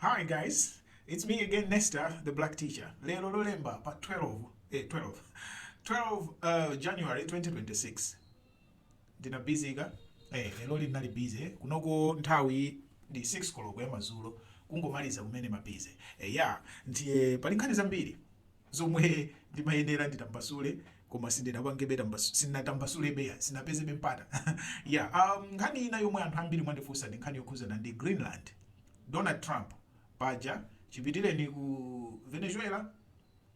Hi guys, it's me again Nesta, the black teacher. Lero Lolemba pa 12, eh 12, 12 uh, January 2026. Ndina busy ka? Eh, lero linali busy. Kunoko nthawi ndi 6 koloko ya madzulo kungomaliza kumene mabize. Eh, ya, ndiye pali nkhani zambiri. zomwe ndimayenera nditambasule koma sindinapangebe tambas- sindinatambasulebe eya sindinapezebe mpata ya um, nkhani ina yomwe anthu ambiri mwandifunsa ndi nkhani yokhudzana ndi greenland donald trump paja chipitireni ku venezuela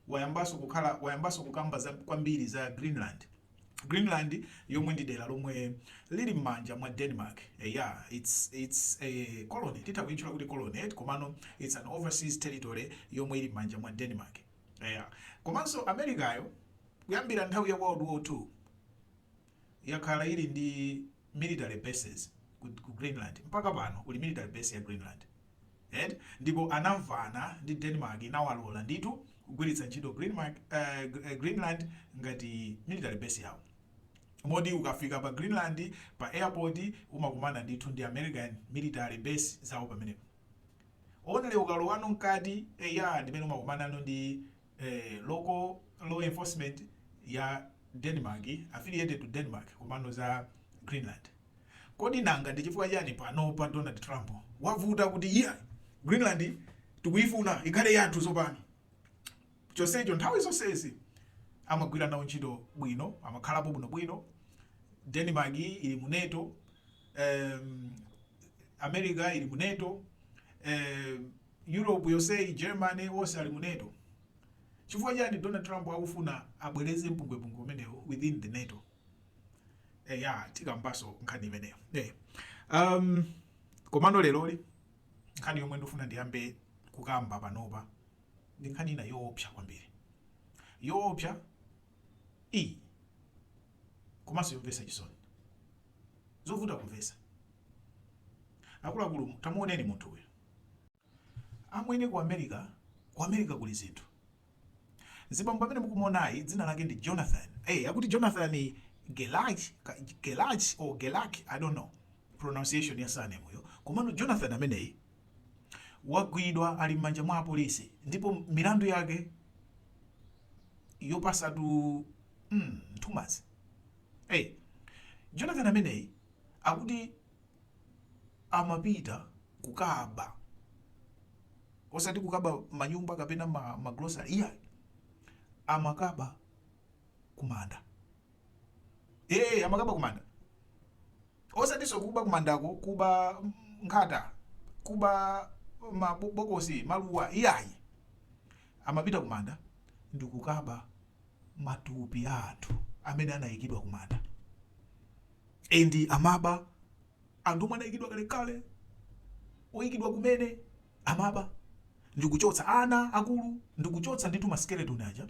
wayambaso kukhala wayambaso kukamba za, kwambiri za greenland Greenland yomwe ndi dera lomwe lili mmanja mwa Denmark eya its its a colony titha kuitchula kuti colony eti komano its an overseas territory yomwe ili mmanja mwa Denmark eya komanso Americayo kuyambira nthawi ya World War 2 yakhala ili ndi military bases ku, ku Greenland mpaka pano kuli military base ya Greenland and ndipo anamvana ndi Denmark inawalola ndithu kugwiritsa ntchito Greenmark, uh, Greenland ngati military base yawo moti ukafika pa Greenland pa airport umakumana ndithu ndi American military base zawo pamenepo only ukalowano mkati eya ndimene umakumanano ndi eh local law enforcement ya Denmark affiliated to Denmark komano za Greenland kodi nanga ndi chifukwa chani panopa Donald Trump wavuta kuti eya Greenland tikuyifuna ikhale yathu tsopano chonsecho nthawi zonsezi amagwira nawo ntchito bwino amakhalapo bwino bwino Denmark ili mu NATO um, America ili mu NATO um, Europe yoseyi Germany wose ali mu nato chifukwa chani Donald Trump akufuna abweretse mpungwepungwe umenewu within the nato eya eh, tikambaso nkhani imeneyo hey. Eh, um, komano leloli nkhani yomwe ndifuna ndiyambe kukamba panopa ndi nkhani ina yoopsa kwambiri yoopsa iyi komanso yomvesa chisoni zovuta kumvesa akuluakulu tamuoneni munthu uyu Amwene ku America ku America kuli zinthu. Mzibambo amene mukumuonayi dzina lake ndi Jonathan. Eh akuti Jonathan Gelach Gelach or Gelak I don't know pronunciation ya surname yo. Komano Jonathan ameneyi wagwidwa ali mmanja mwa apolisi ndipo milandu yake yopasatu mm, nthumazi. Eh Jonathan ameneyi akuti amapita kukaba osati kukaba manyumba kapena ma, ma grocery iyayi amakaba kumanda ee amakaba kumanda osatinso kuba kumandako kuba mm, nkhata kuba mabokosi maluwa iyayi amapita kumanda ndi kukaba matupi a anthu amene anayikidwa kumanda And amaba anthu omwe anaikidwa kalekale oikidwa kumene amaba ndikuchotsa ana akulu ndikuchotsa ndithu ma skeleton aja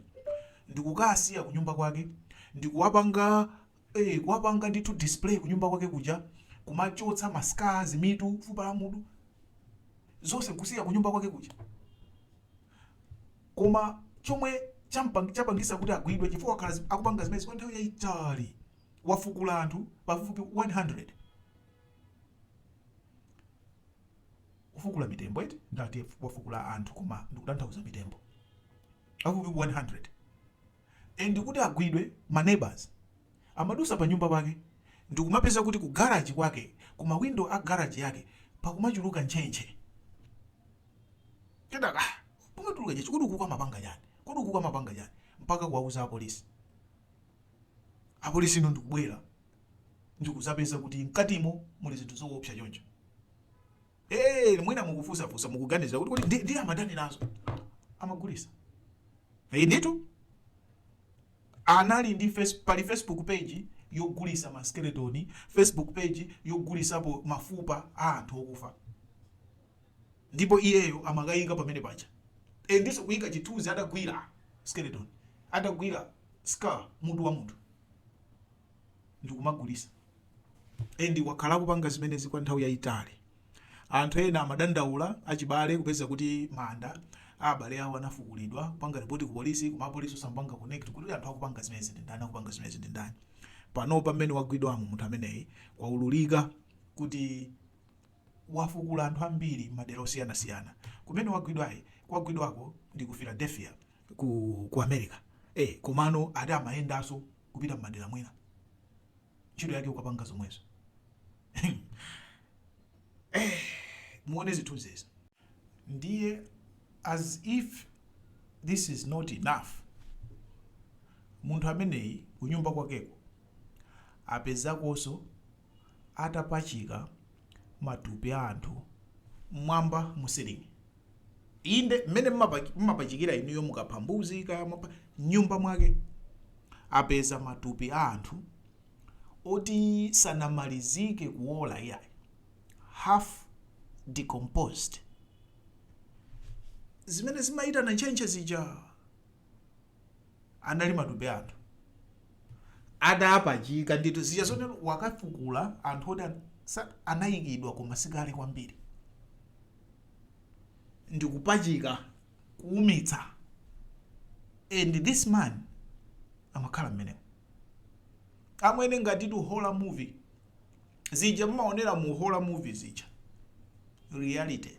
ndikukasiya kunyumba kwake ndikuwapanga eh, kuwapanga ndithu display kunyumba kwake kuja kumachotsa ma skulls mitu fupa la mutu zonse kusiya kunyumba kwake kuja koma chomwe champang- chapangisa kuti agwidwe chifukwa akhala zi- akupanga zimenezi kwa nthawi yayitali wafukula anthu pafupifupi 100 kufukula mitembo eti ndati wafukula anthu koma ndikutanthauza mitembo pafupifupi 100 and kuti agwidwe ma neighbors amadusa pa nyumba pake ndikumapeza kuti ku garage kwake ku mawindo a garage yake pakumachuluka ntchentche kenaka pakumatuluka ntchentche kodi ukuku amapanga chani kodi ukuku amapanga chani mpaka kuwauza apolisi Apolisi no ndikubwera ndikudzapeza kuti mkatimo muli zinthu zoopsa choncho. Eh, mwina mukufunsafunsa mukuganiza kuti kodi ndi- ndiye amatani nazo amagulisa Eh, ndithu anali ndi face, pali facebook page yogulisa ma skeleton facebook page yogulisapo mafupa a anthu okufa ndipo iyeyo amakayika pamene paja e, ndiso kuyika chithunzi atagwira skeleton atagwira skull mutu wa munthu ndikumagulisa and wakhala akupanga zimenezi kwa nthawi yayitali anthu ena amadandaula achibale kupeza kuti manda a abale awo anafukulidwa kupanga ripoti ku polisi koma apolisi osampanga connect kuti anthu akupanga zimenezi ndi ndani akupanga zimenezi ndi ndani pano pamene wagwidwamu munthu ameneyi kwaululika kuti wafukula anthu ambiri madera osiyanasiyana kumene wagwidwayi kwagwidwako ndi ku philadelphia ku ku america ee komano ati amayendaso kupita mmadera mwina ntchito yake kukapanga zomwezo ee muone zithunzi izi ndiye as if this is not enough munthu ameneyi kunyumba kwakeko apezakoso atapachika matupi a anthu mmwamba mu ceiling. Inde, mmene mmapa- mmapachikira inuyo mukapha mbuzi kaya mwapha mnyumba mwake. Apeza matupi a anthu oti sanamalizike kuola iyayi. Half decomposed. Zimene zimayitana ntchentche zija anali matupi a anthu adapachika ndithu zija zoni wakafukula anthu oti an- sa- anayikidwa koma sikale kwambiri ndi kupachika kuumitsa and this man amakhala mmenemo amwene ngatitu horror movie zija mmaonera mu horror movie zija reality